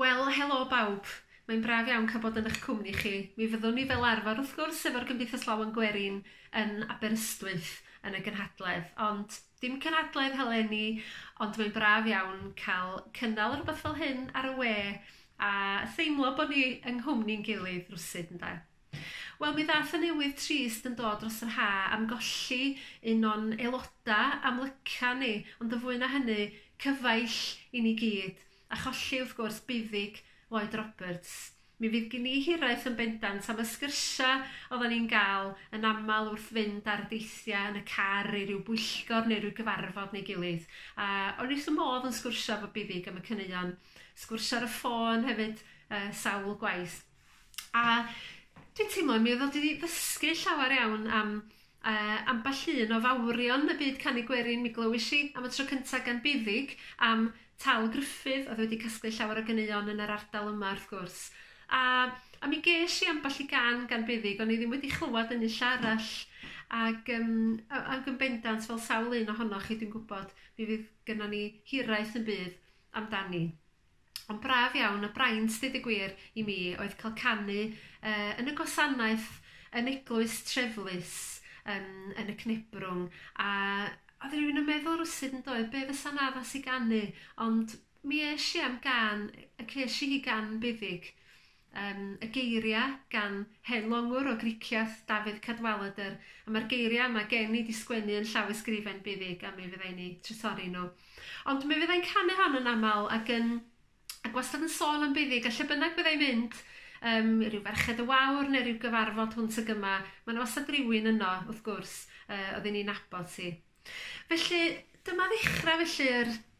Wel, helo bawb. Mae'n braf iawn cael bod yn eich cwmni chi. Mi fyddwn ni fel arfer, wrth gwrs, efo'r Gymdeithas Lawen Gwerin yn Aberystwyth yn y gynhadledd, ond Dim cynadledd haleni, ond mae'n braf iawn cael cynnal rhywbeth fel hyn ar y we a theimlo bod ni yng nghwmni'n gilydd rywsut, ynde? Wel, mi ddaeth y newydd trist yn dod dros yr ha' am golli un o'n aeloda' amlyca ni, ond yn fwy na hynny, cyfaill i ni gyd. A cholli, wrth gwrs, buddug Lloyd Roberts. Mi fydd gin i hiraeth yn bendant am y sgyrsia oddan ni'n ga'l yn amal wrth fynd ar deithia yn y car i ryw bwyllgor neu ryw gyfarfod neu gilydd, a o'n i wrth fy modd yn sgwrsio efo buddug am y caneuon. Sgwrsio ar y ffôn hefyd yy sawl gwaith. A dwi'n teimlo mi odd o 'di ddysgu llawer iawn am yy ambell un o fawrion y byd canu gwerin. Mi glywais i am y tro cynta gan Buddug am Tal Gruffydd odd wedi casglu llawer o ganeuon yn yr ardal yma wrth gwrs. A a mi gesh i ambell i gan gan Buddug o'n i ddim wedi chlywad yn unlle arall ag yym a- ag yn bendant fel sawl un ohonoch chi dwi'n gwbod mi fydd gynnon ni hiraeth yn bydd amdani. Ond braf iawn, a braint deud y gwir i mi oedd cael canu yy yn y gwasanaeth yn eglwys Treflus yn yn y Cnebrwng a oedd rhywun yn meddwl rwsud yn doedd be fysa'n addas i ganu ond mi esh i am gan y cesh i hi gan buddig. Yym, y geiria', gan hen longwr o Gricieth, Dafydd Cadwaladr, a ma'r geiria' yma gen i 'di sgwennu yn llawysgrifen buddig a mi fyddai'n 'u trysorri nhw. Ond mi fyddai'n canu hon yn aml ac yn ac wastad yn sôn am buddig a lle bynnag fyddai'n mynd, yym, i ryw Ferched y Wawr ne' ryw gyfarfod hwnt ag yma, ma' 'na wastad rywun yno, wrth gwrs, yy, odden ni'n nabod hi. Felly, dyma ddechra felly yr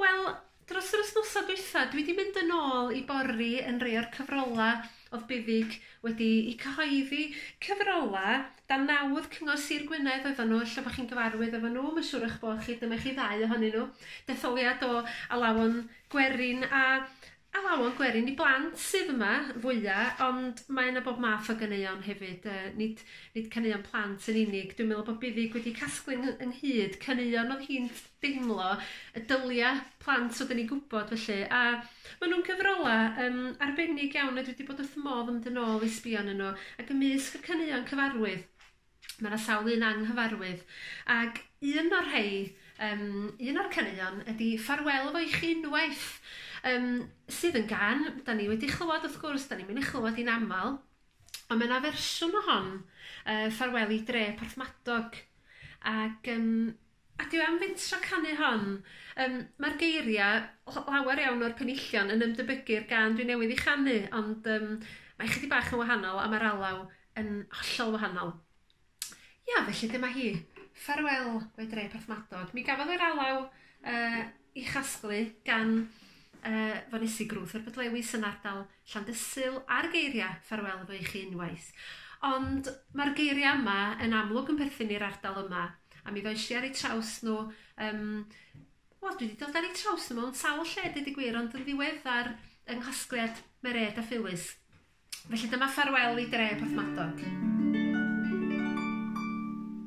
Wel, dros yr wsnosa dwytha, dwi 'di mynd yn ôl i bori yn rei o'r cyfrola o'dd Buddug wedi 'u cyhoeddi. Cyfrola dan naw o'dd Cyngor Sir Gwynedd oeddan nhw, ella bo' chi'n gyfarwydd efo nhw, ma' siŵr o'ch bo' chi, dyma chi ddau ohonyn nhw. Detholiad o alawon gwerin a Alawon gwerin i blant sydd yma fwya ond mae yna bob math o ganeuon hefyd yy nid nid caneuon plant yn unig dwi'n meddwl bod buddig wedi casglu yng ynghyd caneuon oedd hi'n deimlo y dylia plant fod yn ei gwybod felly a ma' nhw'n cyfrola yym arbennig iawn a dwi wedi bod wrth fy modd yn mynd yn ôl i sbio ynnyn nhw ac ymysg y caneuon cyfarwydd Ma' 'na sawl un anghyfarwydd ag un o'r rhei yym un o'r caneuon ydi Ffarwel Efo I Chi Unwaith yym sydd yn gân 'dan ni wedi chlywad wrth gwrs 'dan ni'n myn' i chlywad 'i'n amal on' ma' 'na fersiwn o hon yy Ffarwel i Dre Porthmadog ag yym A dwi am fynd tro canu hon. Yym ma'r geiria' l- lawer iawn o'r penillion yn ymdebygu'r gân dwi newydd 'i chanu ond yym mae chydig bach yn wahanol a ma'r alaw yn hollol wahanol. Ia felly dyma hi. Ffarwel we dre Porthmadog. Mi gafodd yr alaw yy 'i chasglu gan yy fonesi Grŵp yr Bydlewis yn ardal Llandysul a'r geiria' 'ffarwel efo i chi unwaith'. Ond ma'r geiria' yma yn amlwg yn perthyn i'r ardal yma, a mi ddoish i ar 'u traws nhw yym wel dwi 'di dod ar 'u traws nhw mewn sawl lle deud y gwir ond yn ddiweddar yng nghasgliad Mered a Phyllis. Felly dyma 'Ffarwel i Dre' Porthmadog.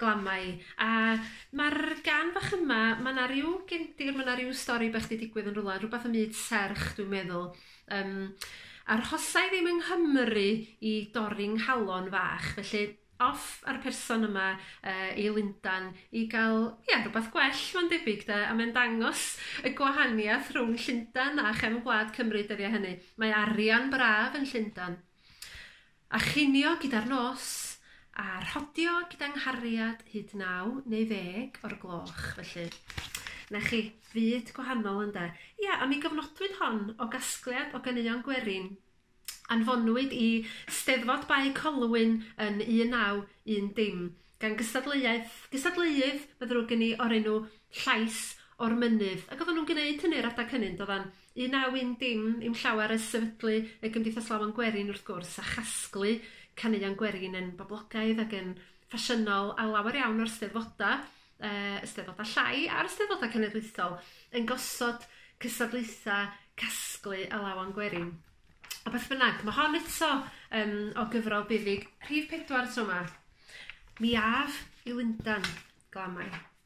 Glamau. A ma'r gan fach yma ma' 'na ryw gefndir ma' 'na ryw stori bach 'di digwydd yn rwla rwbath ym myd serch dwi'n meddwl yym arhosai ddim yng Nghymru i dorri 'nghalon fach felly off a'r person yma yy i Lundan i ga'l ia rwbath gwell ma'n debyg 'de a mae'n dangos y gwahaniath rhwng Llundan a chefn gwlad Cymru dyddia' hynny. Mae arian braf yn Llundan. A chinio gyda'r nos, a rhodio gyda nghariad hyd naw neu ddeg o'r gloch, felly. 'Na chi, fyd gwahanol, ynde? Ia, a mi gofnodwyd hon o gasgliad o ganeuon gwerin. Anfonwyd i Steddfod Bae Colwyn yn 1910 gan gystadleuaeth, gystadleuydd, mae'n ddrwg gen i, o'r enw Llais o'r Mynydd, ac oedden nhw'n gneud hynny yr adeg hynny, yn doeddan? Un a yw'n dim i'm llawer ers sefydlu y Gymdeithas Lawen Gwerin wrth gwrs, a chasglu caneuon gwerin yn boblogaidd ac yn ffasiynol ar lawer iawn o'r Steddfodau, yy y Steddfodau llai a'r Steddfodau Cenedlaethol, yn gosod cystadlaethau casglu a lawen gwerin. A beth bynnag, mae hon eto um, o gyfrol buddig, rhif pedwar tro yma. Mi af i Lundan, glamau.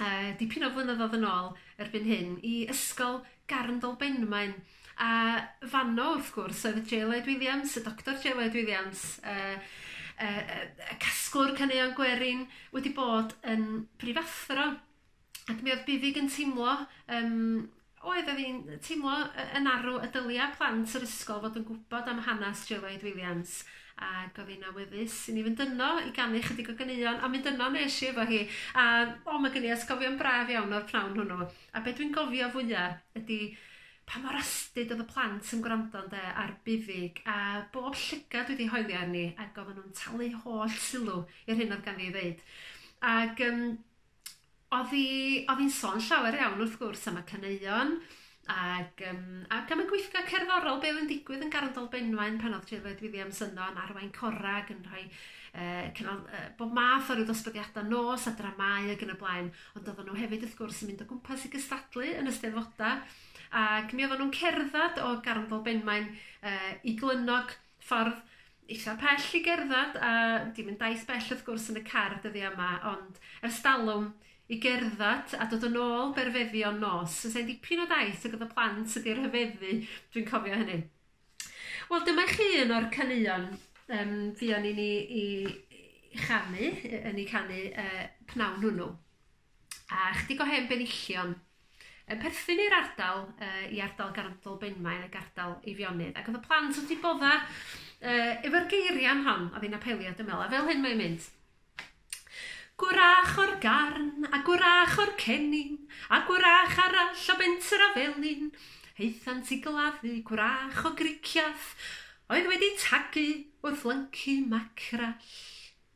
uh, dipyn o flynyddoedd yn ôl erbyn hyn i ysgol Garndol Benmaen. A fanno, wrth gwrs, oedd y J. Lloyd Williams, y Doctor J. Lloyd Williams, uh, uh, uh, casglwr caneuon gwerin, wedi bod yn prifathro. Ac mi oedd Bifig yn teimlo um, Oedd, oedd hi'n teimlo y- yn arw y dylia plant yr ysgol fod yn gwybod am hanes Joe Lloyd Williams ac oedd hi'n awyddus i ni fynd yno i ganu chydig o ganeuon a mynd yno nes i efo hi a o mae gen i ysgofion braf iawn o'r pnawn hwnnw a be dwi'n gofio fwya ydy pa mor astud oedd y plant yn gwrando ynde ar buddug a bob llygad dwi wedi hoelio arni ac oedden nhw'n talu holl sylw i'r hyn oedd ganddi i ddeud ac yym Odd 'i odd 'i'n sôn llawer iawn wrth gwrs am y caneuon ag yym ac am y gweithgar cerddorol be' oedd yn digwydd yn Garndolb Benmaen pan odd Tirwed Lloyd Williams yno yn arwain cora ag yn rhoi yy cynnal yy bob math o ryw ddosbarthiada nos a dramâu ag yn y blaen ond oddan nhw hefyd wrth gwrs yn mynd o gwmpas i gystadlu yn y Steddfoda ac mi oddan nhw'n cerddad o Garndolb Benmaen yy i Glynnog ffordd eitha pell i gerdded a dim yn daith bell wrth gwrs yn y car dyddia' yma ond ers dalwm i gerdded a dod yn ôl berfeddion nos. So sa'n dipyn o daith ag oedd y plant wedi rhyfeddu, dwi'n cofio hynny. Wel dyma chi un o'r caneuon um, fuon ni'n i, i chanu, yn ei canu uh, pnawn hwnnw. A chydig o hen benillion yn perthyn i'r ardal yy i ardal Garndl Benmaen ac ardal Eifionydd ac o'dd y plant wrth 'u bodda' yy efo'r geiria'n hon a fi'n apelio dwi me'wl a fel hyn mae'n mynd. Gwrach o'r Garn a gwrach o'r Cennin a gwrach arall o Benter a Felin aethant i gladdu gwrach o Griciath oedd wedi tagu wrth lyncu macrell.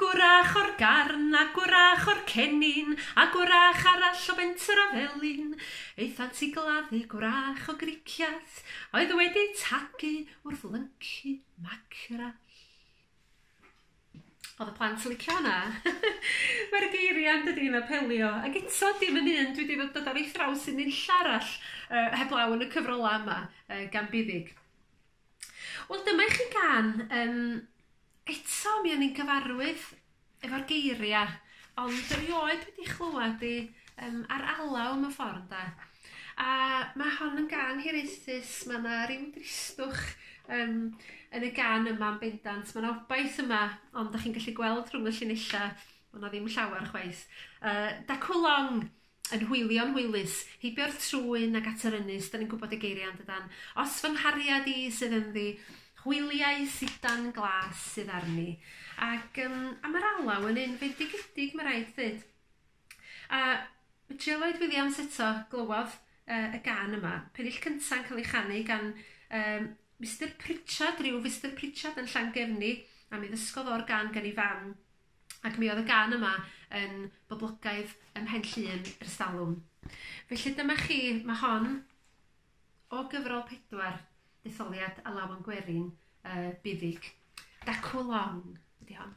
Gwrach o'r Garn, a gwrach o'r Cenin, a gwrach arall o Fenter a Felin, aethant i gladdu gwrach o Gricias oedd wedi tagu wrth lyncu mackerel. Oedd y plant yn licio hwnna. Mae'r geiriau yn dydi yn apelio. Ac eto, dim yn un dwi wedi fod dod ar ei thraws yn nunlla arall uh, heblaw yn y cyfrolau yma uh, gan buddig. Wel dyma i chi gan yym eto mi o'n i'n gyfarwydd efo'r geiria ond erioed wedi chlywed 'i yym ar alaw mewn ffor ynde? A ma' hon yn gân hiraethus ma' 'na ryw dristwch yym yn y gân yma yn bendant ma' 'na obaith yma ond 'dach chi'n gallu gweld rhwng y llinella' bo' 'na ddim llawar chwaith yy Daku Long! yn hwylio'n hwylus, heibio'r trwyn ac at yr ynys, 'dan ni'n gwybod y geiriau yndydan? Os fy nghariad i sydd ynddi, hwyliau sidan glas sydd arni. Ac um, a mae'r alaw yn un fendigedig, mae rhaid ddweud. A Trill Lloyd Williams eto glywodd uh, y gan yma, pennill cynta'n cael ei chanu gan um, Mr Pritchard, rhyw Mr Pritchard yn Llangefni, a mi ddysgodd o'r gan gan ei fam. ac mi oedd y gan yma yn boblogaidd ym Mhen Llŷn ers talwm. Felly dyma chi, mae hon o gyfrol pedwar, detholiad a lawan gwerin uh, buddig. Dacw long ydy hon.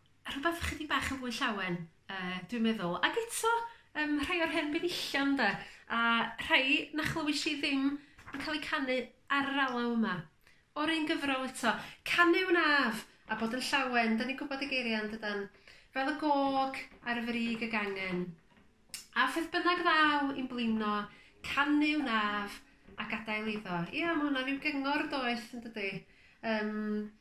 rhywbeth chydig bach yn fwy llawen yy dwi'n meddwl ag eto yym rhai o'r hen weddillion 'de a rhai na chlywish i ddim yn ca'l 'u canu ar yr alaw yma. O'r un gyfrol eto. Canu wnaf, a bod yn llawen, 'dan ni'n gwybod y geiria' yndydan? Fel y gog ar y frig y gangen. A pheth bynnag ddaw i'n blino, canu wnaf a gadael iddo. Ia ma' hwnna ryw gyngor doeth yndydi? Yym.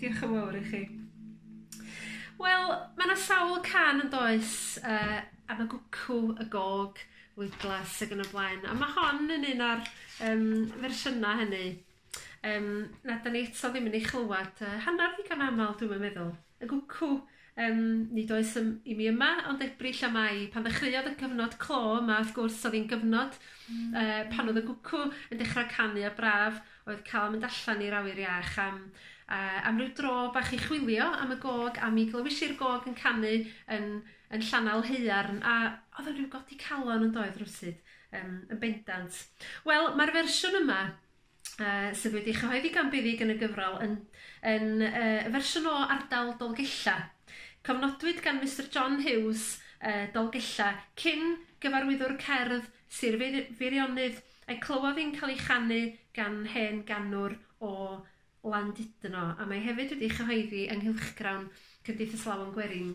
Diolch yn fawr i chi. Wel, mae yna sawl can yn does uh, am y gwcw, y gog, wiglas ac yn y blaen. A mae hon yn un o'r um, fersiynau hynny. Um, na, da ni eto ddim yn ei chlywed uh, hanner ddigon aml, dwi'n meddwl. Y gwcw! Yym, nid oes ym- i mi yma, ond Ebrill am ai. Pan ddechreuodd y cyfnod clo yma, wrth gwrs, o'dd 'i'n gyfnod yy pan o'dd y gwcw yn dechra canu a braf oedd ca'l mynd allan i'r awyr iach am yy am ryw dro bach i chwilio am y gog, a mi glywis i'r gog yn canu yn yn Llanal Haearn, a o'dd o'n ryw godi calon, yndoedd, rywsud? Yym, yn bendant. Wel, ma'r fersiwn yma yy sydd wedi chyhoeddi gan Buddug yn y gyfrol yn yn yy fersiwn o ardal Dolgella. Cofnodwyd gan Mister John Hughes yy Dolgella, cyn gyfarwyddwr cerdd Sir Feir- Feirionnydd, a'i clywodd hi'n cael ei chanu gan hen ganwr o Landudno, a mae hefyd wedi ei chyhoeddi yng nghylchgrawn Cymdeithas Lawen Gwerin.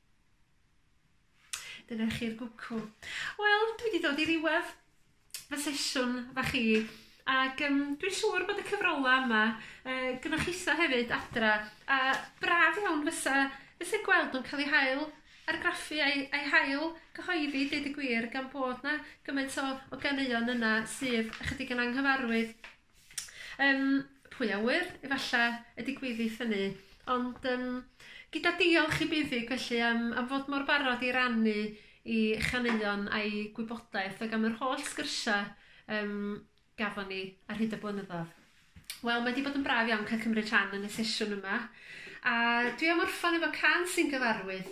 Dyna chi'r gwcw. Wel, dwi wedi dod i ddiwedd fy sesiwn fach i, ac um, dwi'n siŵr bod y cyfrola yma uh, gynnwch isa hefyd adra, a braf iawn fysa, fysa gweld nhw'n cael ei hael argraffu a'i, ai hael gyhoeddi, dweud y gwir, gan bod na gymaint o, o ganeuon yna sydd ychydig yn anghyfarwydd Yym, pwy a ŵyr, efalla y digwyddith hynny. Ond yym, gyda diolch i Buddig felly am, am fod mor barod i rannu i chaneuon a'i gwybodaeth ac am yr holl sgyrsiau um, gafon ni ar hyd y blynyddoedd. Wel, mae wedi bod yn braf iawn cael cymryd rhan yn y sesiwn yma, a dwi am orffan efo can sy'n gyfarwydd